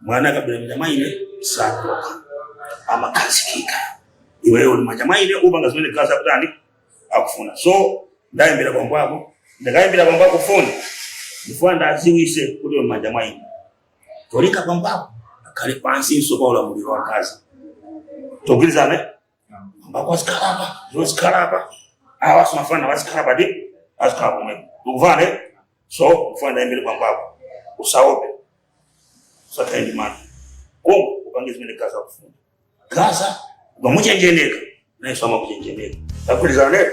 mwana akabwera manja mwa ine sakuloka amakhazikika iweyo uli m'manja mwa ine upange zimene gaza kutani akufuna so ndayimbira bambo ako ndikayimbira bambo ako foni ndifuna ndiwadziwitse kuti uli m'manja mwa ine cholinga bambo ako akhale pansinso pa ulamuliro wa gaza tagwirizana bambo ako azikhala apa iwo azikhala apa awasomafana azikhala pati azikhala pamene ukumvana eh? so mfana ndiyimbire bambo ako usaope usakhale ndi mantha koma upange zimene gaza akufuna gaza ukamuchenjeneka nayenso amakuchenjeneka tagwirizana nero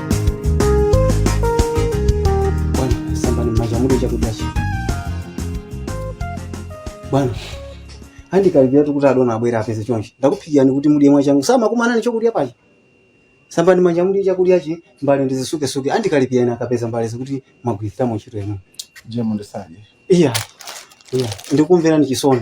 Bwana, sambani m'manja mudye chakudyachi. Bwana, andikalipiratu kuti adona abwera apeze chonchi. Ndakuphikirani kuti mudye mwachangu. Samakumana ni chakudya pachi. Sambani m'manja mudye chakudyachi, mbale ndizisukesuke. Andikalipirani akapeza mbalezi kuti mwagwiritsamo ntchito inu. Jemu ndisiye. Iya, iya, ndikumverani chisoni.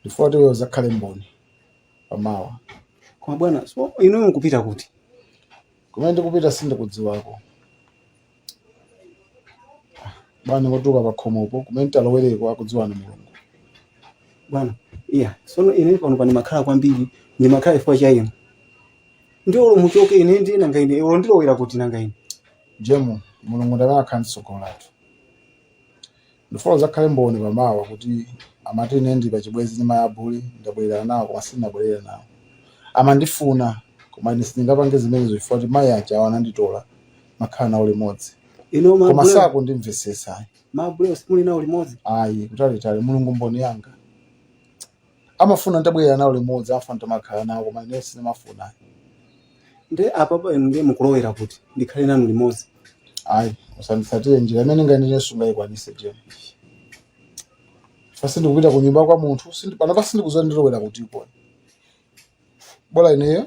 ndifuna kuti iwe uzakhale mboni pamawa koma bwana so inuyo mukupita kuti kumene ndikupita sindikudziwako bwana ndingotuluka pakhomopo kumene nditalowereko akudziwa ndi mulungu bwana iya sono ine pano pa ndimakhala kwambiri ndimakhala chifukwa cha inu ndiye olo muchoke ine ndiye nanga ine olo ndilowera kuti nanga ine jemu mulungu ndi amene akhale ndi tsogolo lathu Ndifuna udzakhale mboni pa mawa kuti amati ine ndi pachibwenzi ndi mayi a Bully, ndabwererana nawo koma sindinabwerere nawo. Amandifuna koma ine sindingapange zimenezo chifukwa choti mayi akewo ananditola n'kumakhala nawo limodzi. Inuyo ma Koma Bully, sakundimvetsetsa ayi. ma Bully simuli nawo limodzi? Ayi, kutalitali, Mulungu mboni yanga. amafuna nditabwerera nawo limodzi amafuna nditamakhala nawo koma ine sindimafuna nde apapa inu ndiye mukulowera kuti ndikhale nanu limodzi ayi usanditsatire njira imene ndingayende ine sungayikwanise jemu chifukwa sindikupita ku nyumba kwa munthu sindi- panopa sindikuziwa ndilowera kuti ikona bola ineyo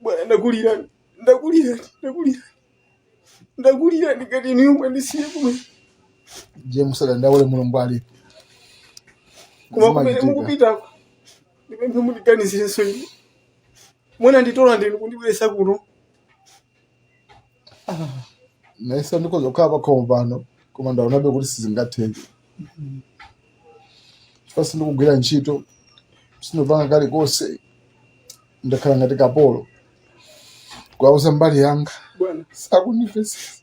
bwana ndakulira ndakulira ndakulira ndakulira ndikati inuyo mwandisiyiye kumene jemu usadandaule mulungu alipo koma kumene mukupitako ndipemphe mundiganizirenso ine munanditola ndinu kundibweresa kuno nanenso ndikhoza kukhala pakhomo pano koma ndaonabe kuti sizingatheke chifukwa sindikugwira ntchito sindipanga kalikonse ndakhala ngati kapolo kwauza mbali yanga bwana sakundimvetsetsa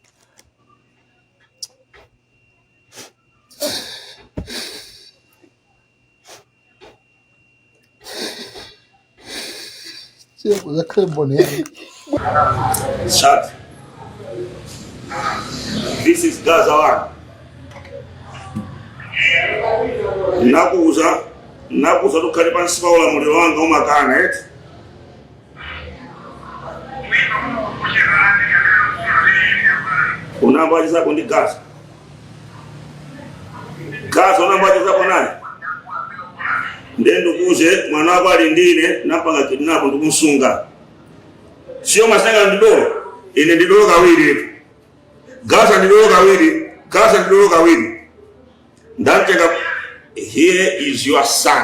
Shut. This is Gaza one. Nakuza, nakuza tukhale pansi pa ulamuliro wanga umakana eti. unambochezapo ndi Gaza Gaza unambochezapo naye ndiye ndikuuze mwana wako ali ndine nampanga kidnap ndikumsunga si zamasanga ndidolo ine ndidolo kawiri gaza ndidolo kawiri gaza ndidolo kawiri ndantenga here is your son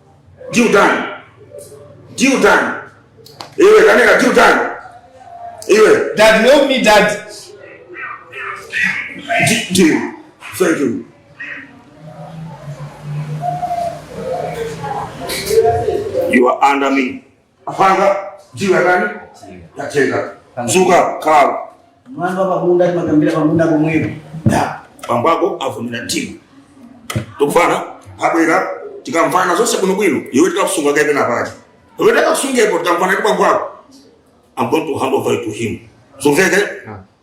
ndi utani ndi utani iwe kaneka ndi utani iwe Dad, help me, Dad. Di- Deal. Thank you. You are under me. Apanga deal yanji? Yachenga. Zuka kala. Mwana pa munda timakambira pa munda pomwepo. Da. Bambako avomera deal. Tikufuna abwere tikamvana zonse bwinobwino iwe tikakusunga kae pena pati. Iwe tikakusungepo tikamvana ndi bambako. I'm going to hand over to him. Zamveka?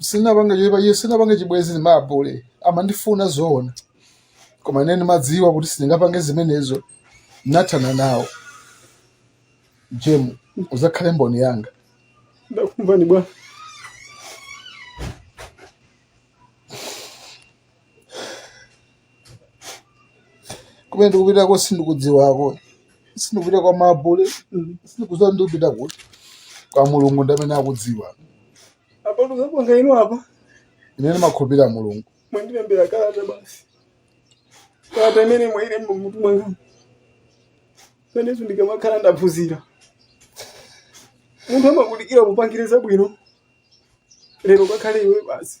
sinapange choipacho sinapange chibwenzi ndi mabule amandifuna zoona koma ine ndimadziwa kuti sindingapange zimenezo nathana nawo jemu uzakhale mboni yanga ndakumvani bwana kumene ndikupitako sindikudziwako sindikupita kwa mabule sindikudziwa ndikupita kuti kwa mulungu ndi amene akudziwa apa ndikapanga inu apa ine ndimakhulupirira mulungu mwandilembera kalata basi kalata imene mwailemba mmutu mwanga pa zimenezo ndikamakhala ndaphunzira munthu amakudikira ukupangire zabwino lero kakhale iwe basi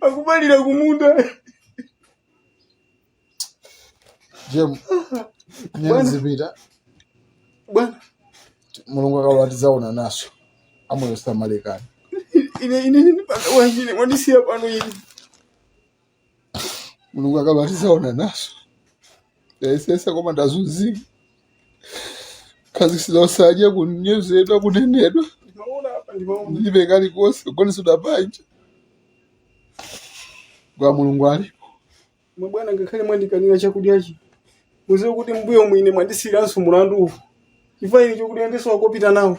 akupalira kumunda jemu ine ndizipita bwana mulungu akalola tidzaonananso amoyo salekana ine ine ndipanga wachine mwandisiya pano ine mulungu akalola tizaonananso ndayesesa koma ndazunzika kukhazikitsidwa osadya kunyozedwa kunenedwa ndilibe kalikonse kugonetsedwa panja kwa mulungu alipo mabwana ngakhale mwandikanira chakudyachi muziwe kuti mbuyo muno mwandisiyiranso mulandu uwu chifukwa ine chokudya ndisowa kopita nawo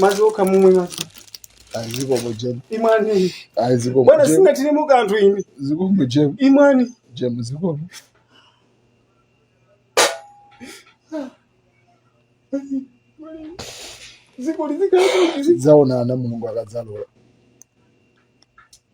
madzi okha mumwe madzi azikomo jemu imwani azikomo bwana jemu sindingatere mu kanthu ine zikomo jemu imwani jemu zikomo ziko lizikhala zaonana mulungu akadzalola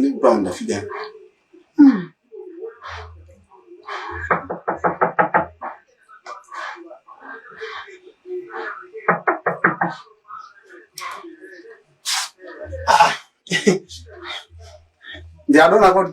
Ni brown da fida. Ndi adona kodi?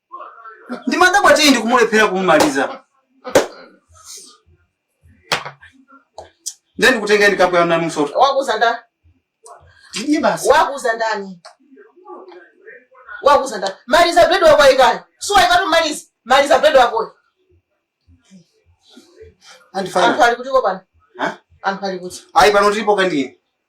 ndimadabwa tiyi ndikumulephera kumumaliza ndiye ndikutengeni kapu ya nanu msoto wakuuza ndani tidye basi wakuuza ndani wakuuza ndani maliza bread wako ayikani suwayikatu maliza maliza bread wakoyo anthu andifana ali kutiko pano Ha? anthu ali kuti ayi pano tilipo kandini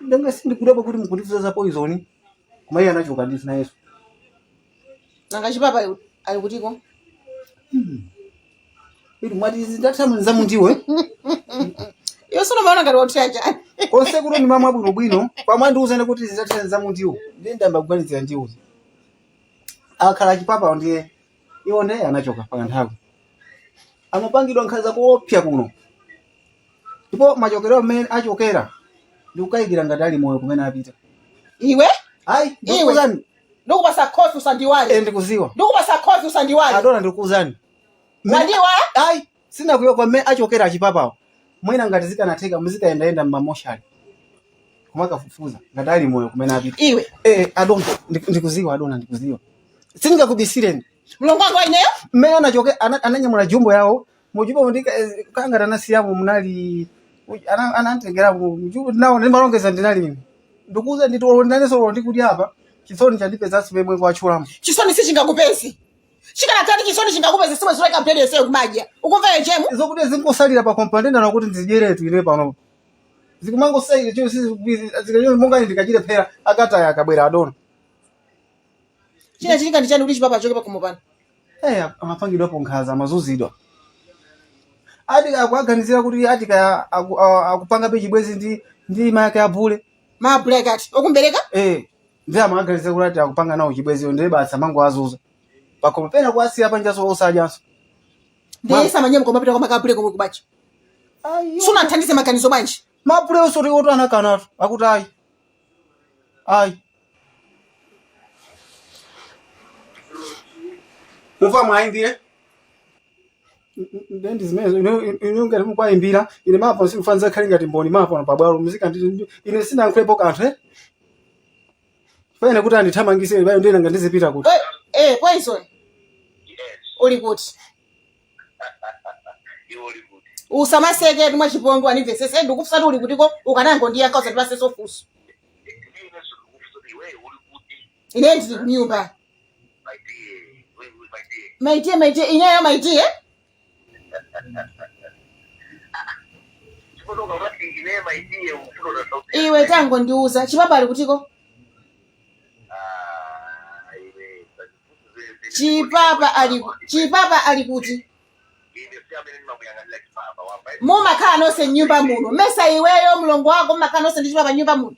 nanga sindikudabwa kuti mukundifunsa za poison koma iye anachoka ndisi nayeso nanga chipapa ali- ali kutiko iti mwati zitathamu za mundiwo eh? iyo sino maona ngati wathira chani konse kuti ndimamwa bwinobwino pamwe andiuze kuti zitathamu za mundiwo ndiye ndiyamba kuganizira ndiwo akhala achipapa ndiye iwo nde anachoka pa kanthawi amapangidwa nkhanza koopsa kuno ndipo machokero amene achokera ndikukayikira ngati ali moyo kumene apita iwe ayi Iwe. ndikukuuzani ndikupasa khofi usandiiwale eh, ndikuziwa ndikupasa khofi usandiiwale adona ndikukuuzani wandiiwala ayi sinakuiwale kwa mmene achokera achipapawo mwina ngati zikanatheka muzikayendayenda mmamoshali kumakafufuza ngati ali moyo kumene apita iwe eh adona ndi- ndikuziwa adona ndikuziwa sindingakubisireni mlongo wanga ineyo mmene anachoke ana- ananyamula jumbo yawo mujumbo ndi kangati anasiyamo munali ana- anantengeramo mjumbo nawo ndimalongeza ndinali ine ndikuuza nditi olo ndinanenso olo ndikuti apa chisoni chandipezanso pemwe kwachulamo chisoni sichingakupeze chikanakhala ndi chisoni chingakupeze siwe zoleka mpheni yonseyo kumadya ukumva yechemu zokudya zingosalira pakhomo pano ndana kuti ndidyeretu ine pano zikumangosalira chio sizikachio monga ine ndikachire phera akataya akabwera adona china chilinga ndi chani kuti achipapa achoke pakhomo pano Eh, amapangidwapo nkhanza amazunzidwa ati akuaganizira kuti ati kaya aku- a- akupangabe chibwezi ndi ndi mayake abule maabulekati okumbereka eh ndiye amawaganizira kuti ati akupanga nawo chibwezicho ndiye basi amangowazunza pakhomo pena kuwasiya panjaso osadyanso ndiye isa manyemu kumapita kwa make bule komwe kubachi sunawathandize maganizo bwanji mapule osoti oto anakanatu akuti ayi ayi muva mwayi ndiye nde ndi zimenezo ineyo ngati mukwayimbira ine mapo sikufuna nzakhale ngati mboni mapo pa bwalo muzika ndi ine sinalankhulepo kanthu eh pena kuti andithamangise bayo nde nanga ndizipita kuti Po- eh poison uli kuti iwo uli kuti usamaseketu mwachipongwe undimvesese ndikufunsa kuti uli kutiko ukanangondiyankha usandipasenso funso ndine sikukufunsa kuti iweyo uli kuti ine ndili kunyumba maitie maitie ineyo maitie iwe tangondiuza chipapa ali kutiko chipapa ali kuti mumakhala nonse mnyumba muno mesa iweyo mlongo wako mumakhala nonse ndi chipapa mnyumba muno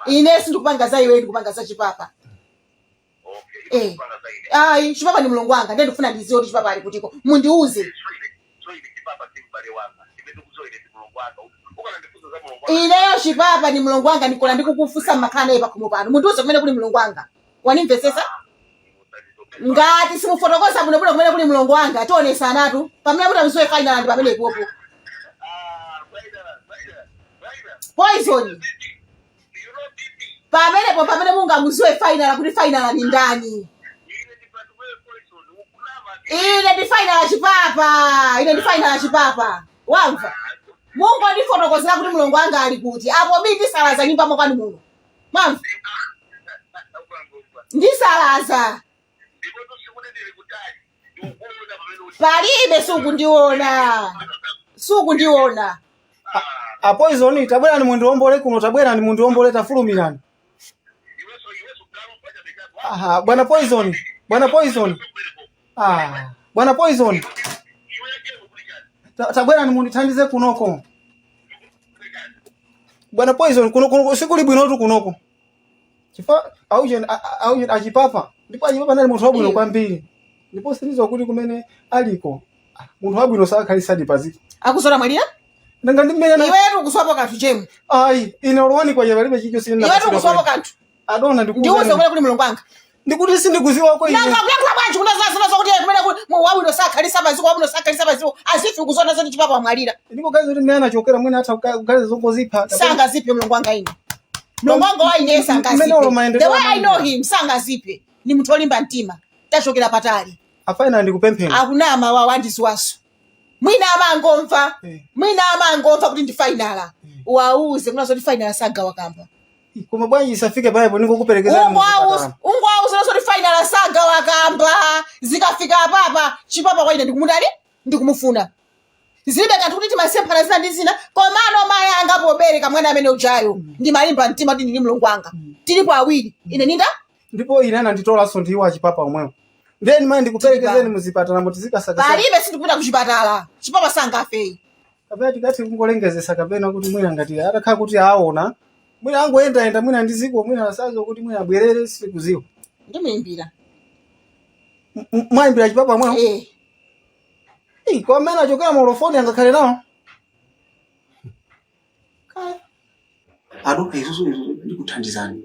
ine sindikupanga za iwe ndikupanga za chipapa Eh. ayi chipapa ndi mlongo wanga ndiye ndikufuna ndiziwe kuti chipapa ali kutiko mundiuze ineyo chipapa ndi mlongo wanga ndikona ndikukufunsa mmakhala naye pakhomo pano mundiuze kumene kuli mlongo wanga wanimvetsetsa ngati simufotokoza bwinobwino kumene kuli mlongo wanga tionesanatu pamene kuti amziwe final ndi pamenepopo poison pamenepo pamene mungamuziwe final kuti final ni ndani ine ndi final achipapa ine ndi final achipapa wamva mungondifotokozera kuti mlongo wanga ali kuti apo bi ndisalaza mnyumba mwakwanu muno Mwamva, ndisalaza palibe sukundiona sukundiona apoizoni tabwerani mundiwombole kuno tabwerani mundiwombole tafulumirani aha bwana poizoni bwana poizoni Ah, bwana Poison. Ta- Tabwerani mundithandize kunoko. Bwana Poison kuno kuno sikuli bwinotu kunoko. Chifa auje auje achipapa. Ndipo achipapa anali munthu wabwino kwambiri. Ndipo sindiziwa kuti kumene aliko. Ah, Munthu wabwino sakhalisadi paziko. akusora amwalira Nanga ndimene na iwetu ukuziwapo kanthu chemwa Ai, ine olwani kwa ine palibe chicho sina. iwetu ukuziwapo kanthu adona ndiuze ndikuuzani kumene kuli mlongo wanga ndikuti sindikuziwa kwa ine nanga kuyakhula bwanji kunena zazina zokuti iye kumene kuli mu- wabwino sakhalisa paziko wabwino sakhalisa paziko as if ukuziwa zoti chipapa wamwalira ndipo gazi kuti mmene anachokera mwina atha kuga- kuganiza zongozipha sangaziphe mlongo wanga ine mlongo wanga wa ine Mmene ulo sangaziphe mayendedwe the way i amene. know him sangaziphe ni munthu olimba mtima tachokera patali afainala ndikupemphera akunama awa wandiziwaso mwina amangomva Eh. mwina amangomva kuti ndi fainala wauze kunena zoti fainala sagawa kamba koma bwanji isafike poipa ningokuperekeza ungowauza zoti fainala sagawa kamba zikafika apapa chipapa kwa ine ndikumudali ndikumufuna zilibe kanthu kuti timasemphana zina ndi zina komano mayi anga pobereka mwana amene ujayo ndimalimba mtima kuti ndili mlongo wanga tilipo awiri ine ninda ndipo ine ananditolanso ndiwo achipapa omwewo ndeno mayi ndikuperekezeni muzipatala moti zikasakasa palibe sindikupita kuchipatala chipapa sangafe ayi kapena tikati kungolengezesa kapena kuti mwina ngati atakhala kuti aona mwina angoyendayenda mwina ndi dziko mwina asadziwa kuti mwina abwerere sikudziwa ndimuimbira M- m- mwayimbira chipapa mwawo Eh, Ih, kwa amene achokera malo foni angakhale nawo Kaya. adoka izozo ndikuthandizani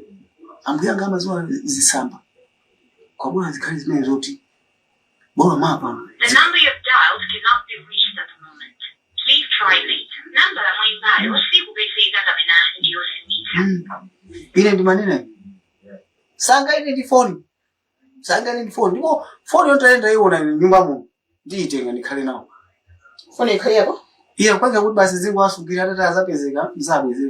ambuya anga amadziwa zitsamba kwabona zikhale zimene zoti Bola mwapha. The number you've dialed cannot be reached at the moment. Please try later. Nambala mwayimbayo sikupezeka kapena ndiyozimitsa. Ine ndimanena. Sangayende ndi phone. Sangayende ndi phone. Ndipo phone yo nditayenda ndiyiwona m'nyumba muno. Ndiyitenga ndikhale nayo. Foni ikhale yako? Iye kwanza kuti basi ndizingowasungira atati azapezeka nzabweza.